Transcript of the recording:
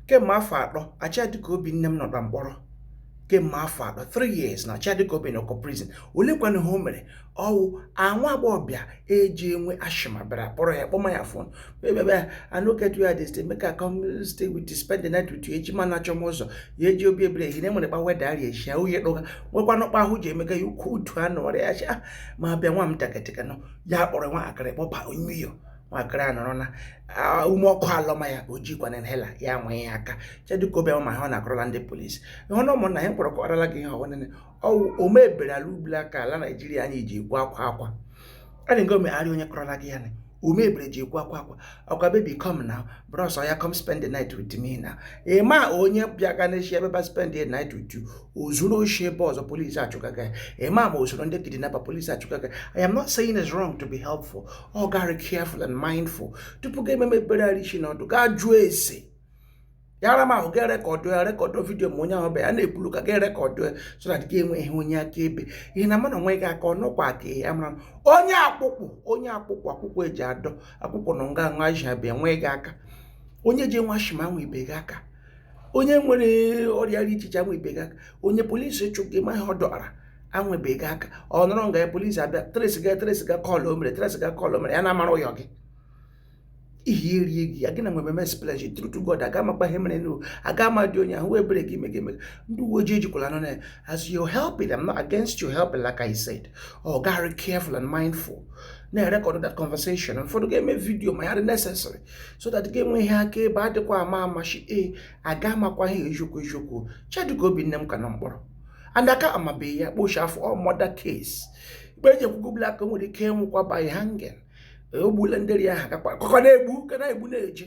kemgbe afọ atọ Achadika obi nne m nọ na mkpọrọ kemgbe afọ atọ 3 years na Achadika obi nọkọ prison olekwana ihe o mere ọ wụ nwa agbọghọbịa eji enwe asthma bịara kpọrọ ya kpọma ya phone baby I no get where I dey stay make I come stay with you spend the night with you eji ma na achọm ụzọ ya eji obi ebere ehine nwere kpa weather rị echi ya uye kpọga nwekwana kpa ahụ ji emeka ya ukwu utu anụ ọrịa ya asthma bịa nwa m taketịkanụ ya kpọrọ nwatakịrị kpọba n'ụyọ nwatakịrị a nọrọ na ume ọkụ alọma ya o jikwa inhaler ya nwụọ ya aka Achadika obi nne m a ha ọ na-akọrọla ndị polisi ịhụ na ụmụnna ya mkpọrọ kọrọla gị ihe ọ wụ nene ọ wụ ome ebere ala ubula aka ala Naijiria anyị ji ekwu akwa akwa a na-ego megharị onye kọrọla gị ya na ome ebere ji ekwu akwa akwa ọkwa baby come now bros ya come spend the night with me now ị ma onye bịa ga n'echi ebe ba spend the night with you o zuru oshi ebe ọzọ polisi achụgaga ya ị ma ma o zuru ndị kidnapper polisi achụgaga ya i am not saying it's wrong to be helpful ọ ga-arị careful and mindful tupu ga ememe ebere arị ishi n'ọdụ gaa jụọ ese ya rị mma ga rekọdụ ya rekọdụ vidio ma onye ahụ bịa ya na-ekwuru ka ga rekọdụ ya so that ị ga-enwe ihe onye akaebe ihi na mmadụ nwụọ gị aka ọnụkwa ka ya mara onye akwụkwụ onye akwụkwụ akwụkwụ ji adọ akwụkwụ nọ nga nwa ji abịa nwụọ gị aka onye ji enwe asthma nwụbe gị aka onye nwere ọrịa dị iche iche nwụbe gị aka onye polisi chụga ma ihe ọ dọara anwụbe gị aka ọ nọrọ nga ya polisi abịa trace ga trace ga call o mere trace ga call o mere ya na-amara ụyọ gị ihe erie gị ya gị na nwebe mes pledge true to God aga amakpa ihe mere n'o aga ama dị onye ahụ ebere gị mega emega ndị uwe ojii ejikwala nọ na as you help it I'm not against you helping like I said ọ ga-arị careful and mindful na-erekọdụ that conversation ụfọdụ ga-eme vidio ma ya rị necessary so that ị ga-enwe ihe akaebe adịkwa ama ama echi e aga amakwa ihe eziokwu eziokwu Achadika obi nne m ka nọ mkpọrọ and a ka amabeghị ya ikpe o shi afọ ọ murder case ikpe eji ekwugo bụla aka o nwere ike ịnwụkwa by hanging ogbula ndị ri ahụ gakwa kọkọ na-egbu ka na-egbu na-eje